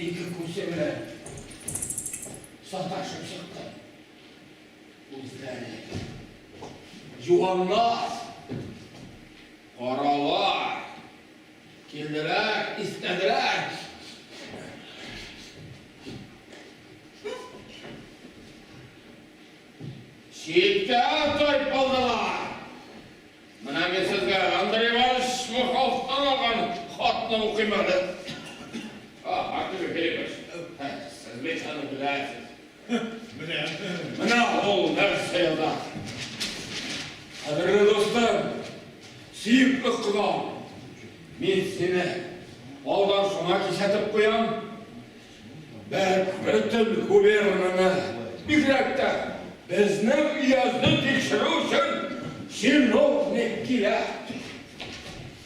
Ике күсе белән саташып чыкты. Үзләре. Юанлар, каралар, килделәр, истәделәр. Читкә тайпылдылар. Менә мин сезгә Андрей Иванович Смыховтан алган хатны укыйм әле. Артур Филиппович, сез бит аны беләсез. Беләм. Менә ул нәрсә яза. Кадерле дустым, сөекле кодам, мин сине алдан шуңа кисәтеп куям. Бөтен губернаны, бигрәк тә безнең өязне тикшерү өчен чиновник кирәк.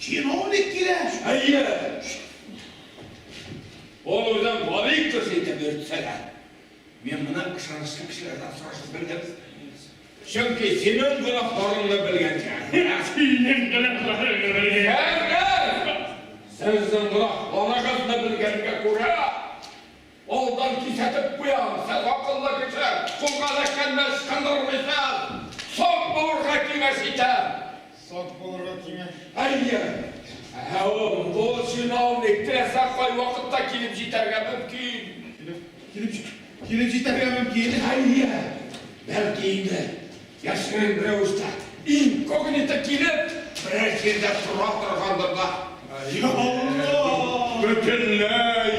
Чиновник кирәк? Әйе. Ул үзен Валиков итеп йөртсә дә, мин моны ышанычлы кешеләрдән сорашып белдем. Чөнки синең гөнаһларыңны белгәнгә. Менә синең гөнаһларыңны белгәнгә. Әгәр сезнең гөнаһларыгызны белгәнгә күрә, алдан кисәтеп куям, сез акыллы кеше, кулга эләккәндә ычкындырмыйсыз, сак булырга киңәш итәм. Сак булырга киңәш. Әйе! Ә ул кул җыйнау теләсә кайвакытта килеп җитәргә мөмкин. Килеп җитәргә мөмкин? Әйе! Бәлки инде яшерен рәвештә, инкогнито килеп, берәр җирдә тора торгандыр да. Йа Алла! Бөтенләй!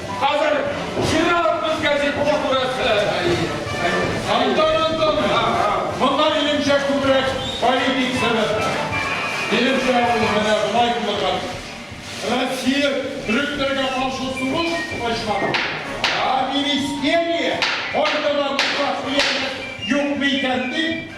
Хәзер җыйналып без гәзитне күрәсе. Антон Антонович, монда минемчә күбрәк политик сәбәп бар. Минемчә ул менә болай булырга тиеш. Россия төрекләргә каршы сугыш ачмады. Ә министерия кайда да булса хыянәт юкмы икән дип,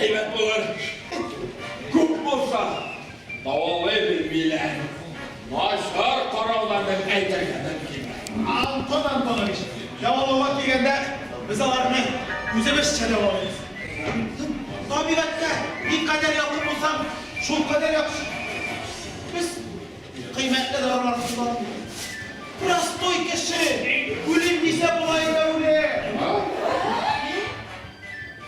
Әйбәт булыр. Күп булса, давалый белмиләр. Начар караулар дип әйтергә мөмкин. Антон Антонович, дәвалауга килгәндә, без аларны үзебезчә дәвалыйбыз. Табигатькә никадәр якын булсаң, шулкадәр яхшы. Без кыйммәтле дарулар кулланмыйбыз. Простой кеше үлем дисә була инде, үлем.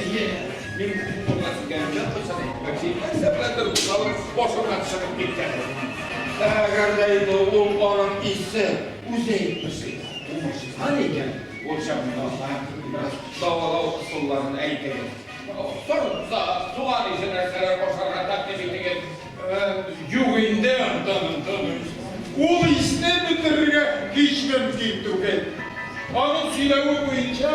Әйе, мин бит монда килгән җан булсам, бәлки, сәбәпләр булсалым, башымнан чыгып киткән. Әгәр дә инде ул аның исе үзе әйтмешли, уңышсызган икән, ул чагында бераз дәвалау ысулларын әйтегез. Торса, туган исе нәрсәләр ашарга тәкъдим итегез. Юк инде, Антон Антонович, ул исне бетерергә һич мөмкин түгел. Аның сөйләве буенча,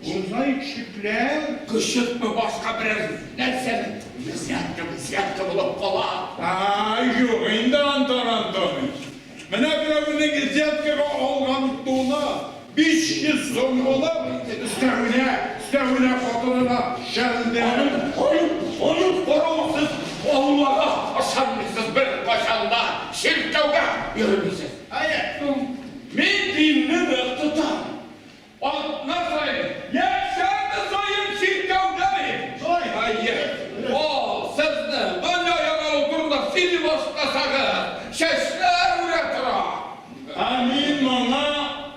Бозай чүпләр. Кычытмы, башка берәр нәрсәме? Взятка, взятка булып кала. Ә-ә, юк инде, Антон Антоныч. Менә берәүнең взяткага алган туны биш йөз сум булып, өстәвенә, өстәвенә хатынына шәлдә. Аның хой, хою борыгы сез Аллага ышанмыйсыз, беркайчан да чиркәүгә йөрмисез. Әйе, мин динне нык тотам. Атна саен, йә сәгате саен чиркәүдәме? Хәер, ул сезне дөнья яналу турында сөйли башласагыз, чәчләр үрә тора. Ә мин моңа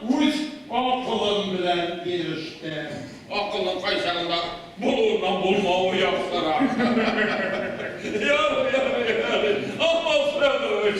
үз акылым белән ирештем. Акылның кайчагында булуыннан булмавы яхшырак. Ярый, ярый, ярый, Алмаз Федорович.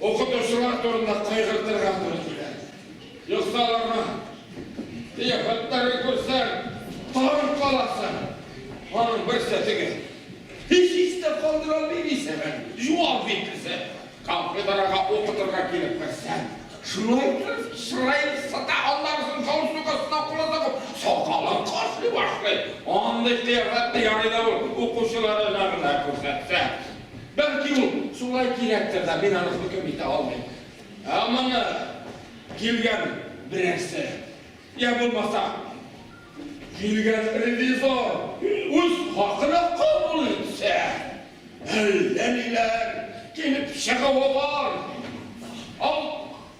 Укытучылар турында кайгыртырга туры килә. Юкса аларның кыяфәтләрен күрсәң, тагын каласың. Аның бер сәтеге һич истә калдыра алмый дисең әле. Җуап итмәсә, кафедрага укытырга килеп керсәң, шулай итеп чыраен сыта, аннарысын галстук астына кулы тыгып, сакалын кашли башлый. Андый кыяфәтне ярый да ул укучыларына гына күрсәтсә. Бәлки ул шулай кирәктер дә, мин аны хөкем итә алмыйм. Ә моны килгән берәрсе, йә булмаса, килгән ревизор үз хакына кабул итсә, әллә ниләр килеп чыгуы бар.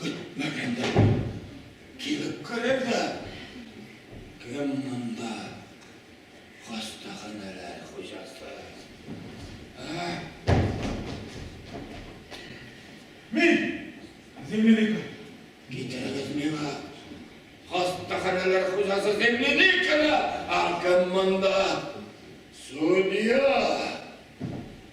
Көтмәгәндә килеп керер дә, Кем монда хастаханәләр хуҗасы? Ә? Мин! Земляника! Китерегез миңа хастаханәләр хуҗасы Земляниканы! Ә кем монда судья?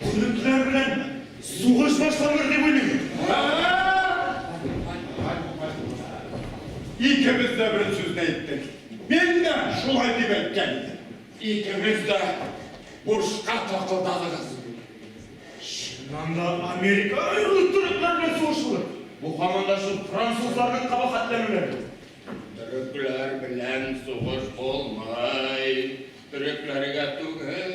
Төркләр белән сугыш башланыр дип уйлыйм. Икебез дә бер сүзне әйттек. Мин дә шулай дип әйткән идем. Икегез дә бушка такылдадыгыз. Чыннан да Американы рус төрекләр белән сугышуы. Бу һаман да шул французларның кабахәтләнүләре. Төрекләр белән сугыш булмый. Төрекләргә түгел.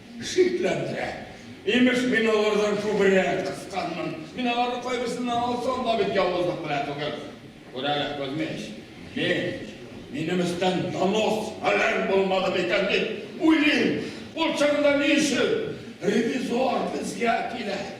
Шикләндерә. Имеш, мин алардан күбрәк кысканмын. Мин аларның кайберсеннән алсам да бит явызлык белән түгел. Күр әле, Кузьмич, мин, минем өстән донос фәлән булмады микән дип уйлыйм. Ул чагында ни өчен ревизор безгә килә?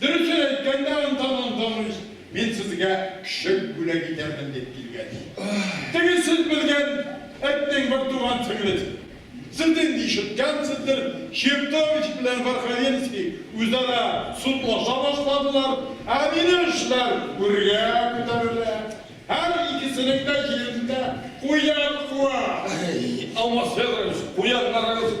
Дөресен әйткәндә, анда Мандалыч, мин сезгә көчек бүләк итәрмен дип килгән иде. Теге сез белгән этнең бер туган сеңлесе. Сез инде ишеткәнсездер, Чертович белән Верховенский үзара судлаша башладылар, ә минем эшләр гүргә күтәрелә. Һәр икесенең дә җирендә куян куа. Әй, Алмаз Федорович, куяннарыгыз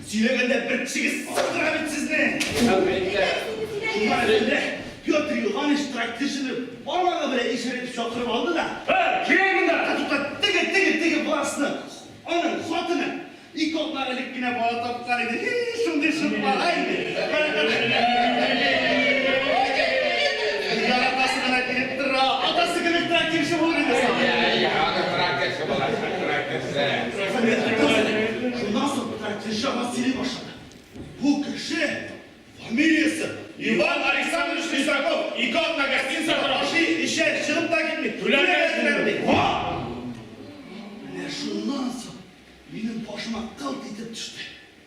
Сөйләгәндә бер тишегез сындыра бит сезне! Шуннан әллә Петр Иоганныч трактирчыны бармагы белән ишарәйтеп чакырып алды да. Һәр, кил монда! Ә тукта, теге, теге, теге властны, аның хатыны, ике атна элек кенә бала тапкан иде, һи, шундый шук бала иде, бер яратасы гына килеп тора, атасы кебек трактирчы булыр иде сабый. Йә, йә, аны трактирчы булачак, трактирчы. Шуннан соң Петр кеше аңа сөйли башлады. Бу кеше фамилиясе Иван Александрович Лизаков. Ике атна гостиница тора. Ашый, эчә, чыгып та китми. Түләмәсеннәр ди. Менә шуннан соң минем башыма кылт итеп төште.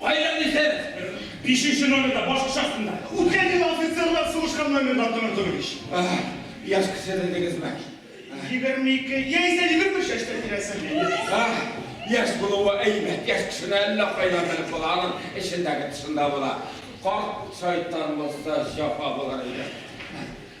Кайда дисез? Бишенче номерда, баш кочасында. Үткән ел офицерлар сугышкан номерда, Антон Антонович. Яшь кеше дидегезме? Егерме ике, яисә егерме өч яшьтә тирәсе. Яшь булуы әйбәт, яшь кешене әллә кайдан белеп була, аның эчендәге тышында була. Карт шайтан булса, җәфа булыр иде.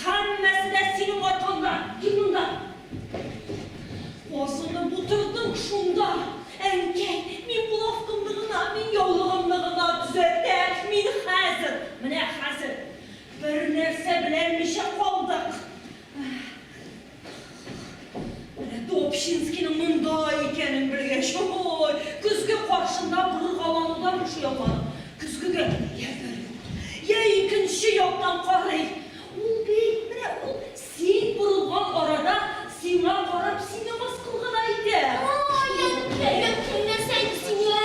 Һәммәсе дә синең аркаңда! Кил монда! Базыңны бутырдык шунда! Әнкәй, мин булавкамны гына, мин яулыгымны гына төзәтәм! Мин хәзер, менә хәзер бернәрсә беләнмичә калдык! Менә Топчинскийның монда икәнен белгәч, ой, көзге каршында боргаланудан бушый алмадым. Көзгегә йә бер як, йә икенче яктан карый. Ул бит, менә ул, син борылган арада сиңа карап, сине мыскыл гына итә. Ай, әнкәем, син нәрсә әйтсен, йә?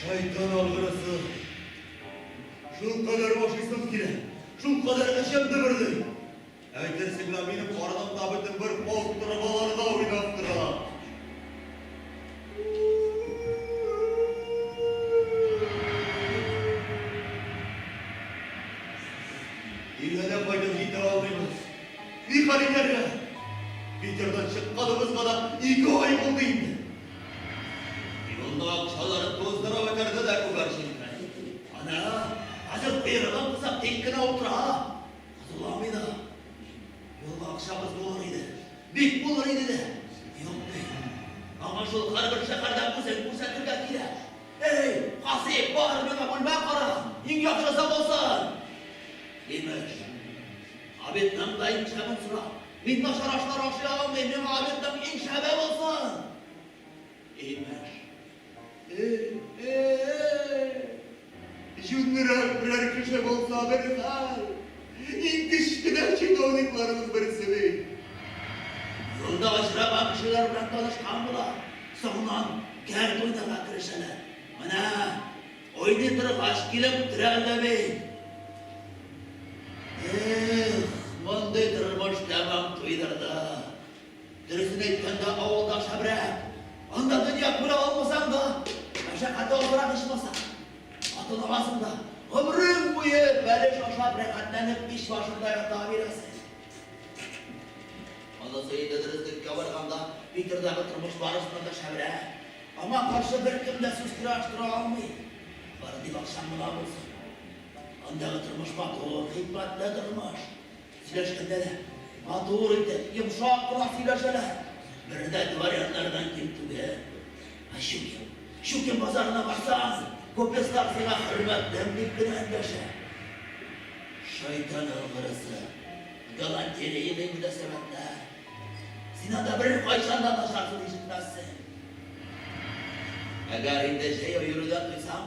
Шайтан алгырысы. Шул кадәр ашыйсым килә. Шул кадәр эчем дөберли. Әйтерсең лә минем карынымда бөтен бер полк торбаларда уйнап тора. Илгәдә кайтып җитә алмыйбыз. Ни хәл итәргә? Питердан чыкканыбызга да ике ай булды инде. Юлда акчалар туздырып бетерде дә күгәр җилкән. Ана, хәзер боерыгы булса, тик кенә утыра. Котыламый да. Юлда акчабыз булыр иде. Бик булыр иде дә. Юк ди. Аңа шул һәрбер шәһәрдә үзен күрсәтергә кирәк. Әй, Казый, бар миңа бүлмә кара, иң яхшысы булсын! Имеш, табибның да икшәмен сорап, Мин башарашлар ашый алмыйм, миңа обедның иң шәбе булсын! Имеш. Җүннерәк берәр кеше булса бер хәл. Иң кечкенә чиновникларыбыз берсе бит. Юлда очраган кешеләр белән танышкан була, соңыннан кәрт уйнарга керешәләр. Менә Уйный торгач килеп төрә дә бит. Эх, мондый тормыш тәмам туйдырды. Дөресен әйткәндә, авылда шәбрәк. Анда дөнья күрә алмасаң да, мәшәкате азрак ичмаса. Атын аласың да, гомерең буе бәлеш ашап рәхәтләнеп мич башында ята бирәсең. Монысы инде дөреслеккә барганда, Питердагы тормыш барысыннан да шәбрәк. Аңа каршы беркем дә сүз тора тора алмый. Бары тик акчаң була булсын. Андагы тормыш матур, хикмәтле тормыш. Сөйләшкәндә дә матур итеп, йомшак кына сөйләшәләр. Бере дә дворяннардан ким түгел. Ә Щукин, Щукин базарына барсаң, купец таксига хөрмәтлем дип кенә эндәшә. Шайтан алгырызы, галантерейный мөнәсәбәтләр. Син анда беркайчан да начар сүз ишетмәссең. Әгәр инде җәяү йөрүдән туйсаң,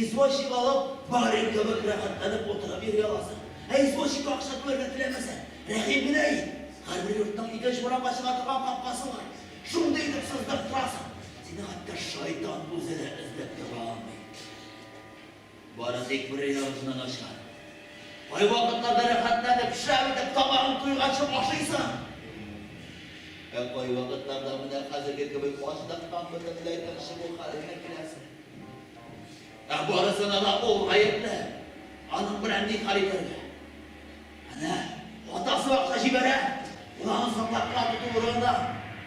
извозчик алып, барин кебек рәхәтләнеп утырып йөри аласың. Ә извозчикка акча түләргә теләмәсәң, рәхим генә ит. Һәрбер йортның икенче урамга чыга торган капкасы бар. Шундый итеп сыздырып торасың, сине хәтта шайтан үзе дә эзләп таба алмый. Бары тик бер өй авызына начар. Кайвакытларда рәхәтләнеп, шәп итеп табагын туйганчы ашыйсың. Ә кайвакытларда менә хәзерге кебек ачтактан бөтенләй тынчыгу хәленә киләсең. Ә барысына да ул гаепле. Аның белән ни хәл итәргә? Әнә, атасы акча җибәрә, ул аны саклаган тоту урынына,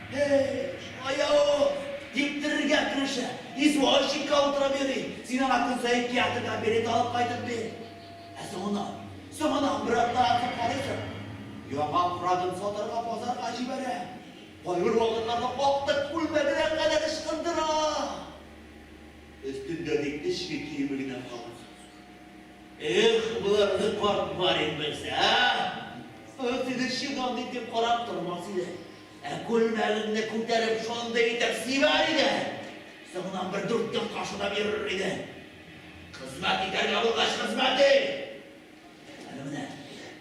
Һей, шулай-я ул! дип терергә керешә. Извозчикка утырып йөри, син аңа көн саен театрга билет алып кайтып бир. Ә соңыннан, соңыннан бер атна ятып карыйсың. Яңа фрагын сатарга базарга җибәрә, кайбер вакытларда актык күлмәгенә кадәр ычкындыра. Өстендә тик эчке киеме генә калган. Эх, боларны карт барин белсә, ә? Аны тегерчек алды итеп карап тормас иде. Ә күлмәгеңне күтәреп шундый итеп сибәр иде. Соңыннан бер дүрт көн кашылап йөрер иде. Хезмәт итәргә булгач, хезмәт ит! Әнә менә,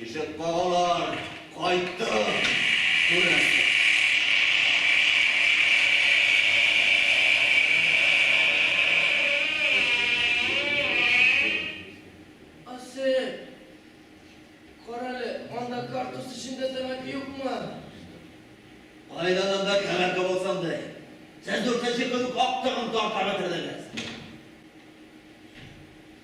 Ишек кагалар, кайттым, күрәсең. Асы, карале, анда картуз эчендә тәмәке юкмы? Кайдан анда тәмәке булсын ди. Сез дүртенче көн үк актыгын тартарга кердегез.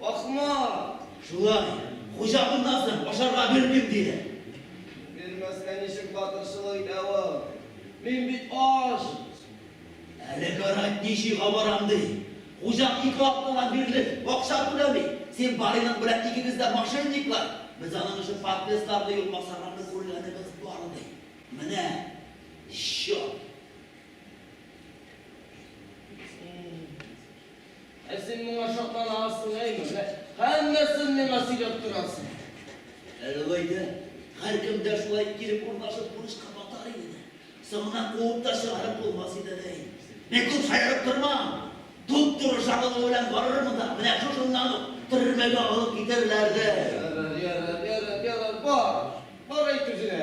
Ахмак! Шулай. Хуҗа моннан соң ашарга бирмим, диде. Бирмәскә ничек батырчылык итә ул? Мин бит ач! Әле карать ничига барам, ди. Хуҗа ике атнадан бирле акча түләми. Син бариның белән икегез дә мошенниклар. Без аның өчен подпискаларны юк максарларны күргәнебез бар, ди. Менә счет. Ә син моңа шатланасың, әйеме? Менә һәммәсен миңа сөйләп торасың. Әй, алай да, һәркем дә шулай килеп урнашып бурычка батар иде дә. Соңыннан куып та чыгарып булмас иде дә инде. Мин күп сайрап тормам. Туп-туры чагылу белән барырмын да, менә шушыннан ук төрмәгә алып китәрләр дә. Ярар, ярар, ярар, ярар, бар, бар әйт үзенә.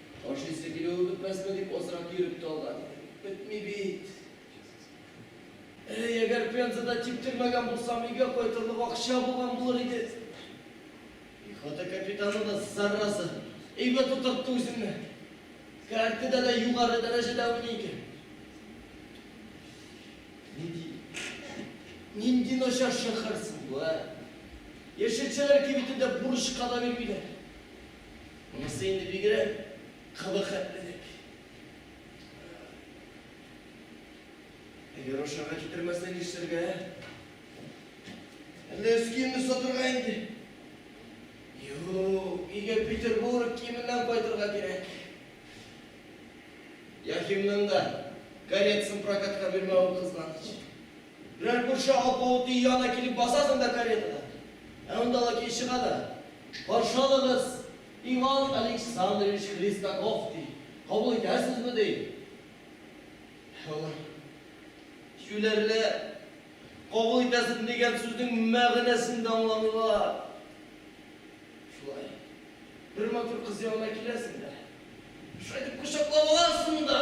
Ашыйсы килүе бетмәсме дип азрак йөреп тә алган иде. Бетми бит. Әй, әгәр Пензада типтермәгән булсам, өйгә кайтырлык акча булган булыр иде. Пехота капитаны да, зараза, әйбәт утыртты үзенне. Картада да югары дәрәҗәдә уйный икән. Нинди, нинди начар шәхәр соң бу, ә? Яшелчәләр кибетендә бурычка да бирмиләр. Монысы инде бигрәк кылы хәтлерәк. Әгәр ашарга китермәсә нишләргә? Әллә өс киемне сатырга инде? Юк, өйгә Петербург киеменнән кайтырга кирәк. Яхимның да коллекциясын прокатка бирмәвен кызганыч. Берәр күрше алпавыт өй янына килеп басасың да каретада, ә анда лакей чыга да, Каршы алыгыз, Иван Александрович Хлестаков, ди. Кабул итәсезме? ди. Алар юләрләр, кабул итәсезме дигән сүзнең мәгънәсен дә аңламыйлар. Шулай, бер матур кыз янына киләсең дә, шулай итеп кочаклап аласың да.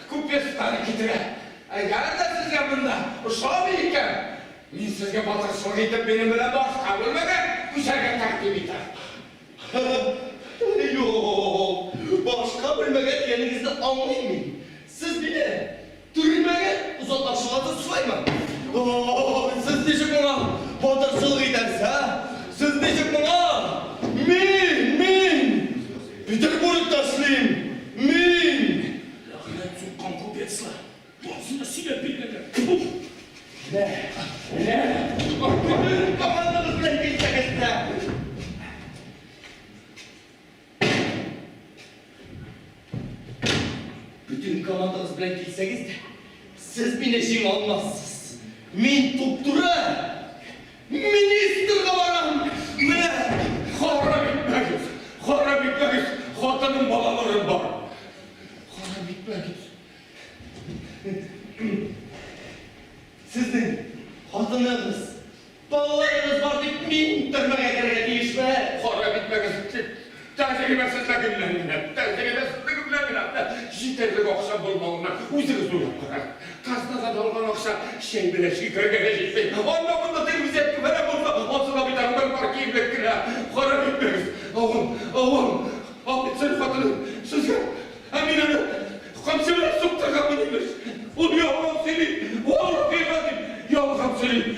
Күп пьесаларны китерә. Әгәр дә сезгә монда ошамый икән, мин сезгә батырчылык итеп минем белән башка бүлмәгә күчәргә тәкъдим итәм. Юк, башка бүлмәгә дигәнегезне аңлыйм мин. Сез мине төрмәгә озатмакчы буласыз шулаймы? Ооу, сез ничек моңа батырчылык итәсез, ә? Сез ничек моңа? Мин, мин! Петербург ташлыйм мин! Ләгънәт суккан купецлар! Барысына сөйләп биргәннәр! Тьфу! Менә, менә! Бөтен командабыз белән килсәгез дә! Бөтен командабыз белән килсәгез дә, сез мине җиңә алмассыз! Мин туп-туры! Министрга барам, менә харап итмәгез, харап итмәгез, хатыным, балаларым бар, харап итмәгез. Сезнең хатыныгыз, балаларыгыз бар дип, мин төрмәгә керергә тиешме? Харап итмәгез, дип, Тәҗрибәсезлеге белән генә, тәҗрибәсезлеге белән генә җитәрлек акча булмавына үзегез уйлап карагыз. Казнадан алган акча чәй белән шикергә дә җитми. Анда-монда телевизия түгәрәк булса, ансы да бит әле бер пар киемлек кенә. Харап итмәгез, авам, авам, офицер хатыны, сезгә, ә мин аны камчы белән суктырганмын, имеш. Ул ялган сөйли, валлаһи газим, ялган сөйли.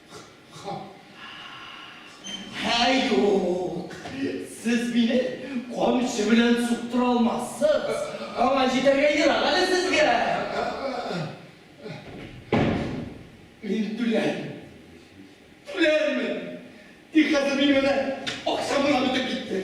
Һәй, юк! Сез мине камчы белән суктыра алмассыз. Аңа җитәргә ерак әле сезгә. Мин түләр. Түләрмен. Тик хәзер минем әнә акчам гына бетеп китте.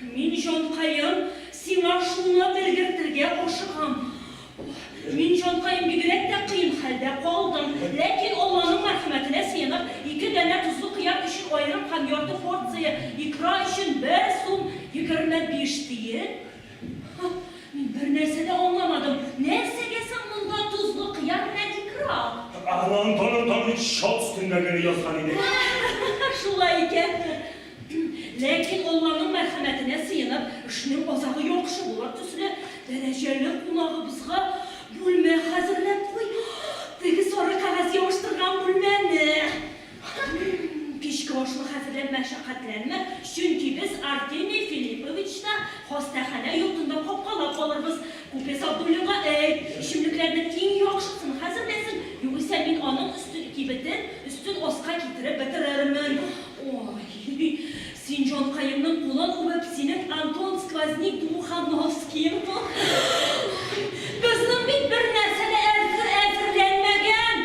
Мин, җанкаем, сиңа шуны белгертергә ашыгам. Мин, җанкаем, бигрәк тә кыен хәлдә калдым. Ләкин Алланың мәрхәмәтенә сыенып, ике данә тозлы кыяк өчен аерым һәм ярты порция икра өчен бер сум егерме биш тиен. Һа, мин бернәрсә дә аңламадым. Нәрсәгә соң монда тозлы кыяк белән икра? Аны Антон Антонович чал өстендә генә язган иде. Шулай икән. Ләкин ул аның мәрхәмәтенә сыенып, эшнең азагы яхшы булыр төсле, дәрәҗәле кунагыбызга бүлмә хәзерләп куй. Теге сары кәгазь ябыштырган бүлмәне. Кичке ашны хәзерләп мәшәкатьләнмә, чөнки без Артемий Филипповичны хастаханә йортында капкалап алырбыз. Күпме Сабдуллинга әйт, эчемлекләрнең иң яхшысын хәзерләсен, югыйсә мин аның өстен кибетен өстен аска китереп бетерермен. Ой, син җанкаемның кулын үбеп, синең Антон Сквозник Думухановскиең бу. Безнең бит бернәрсә дә әзерләнмәгән.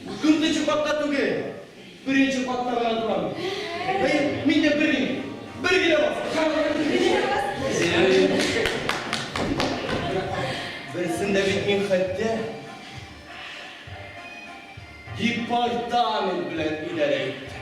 Дүртенче катта түгел, беренче катта гына торам. Әйе, мин дә бер генә, бер генә бас. Берсен дә бит мин хәтта департамент белән идарә иттем.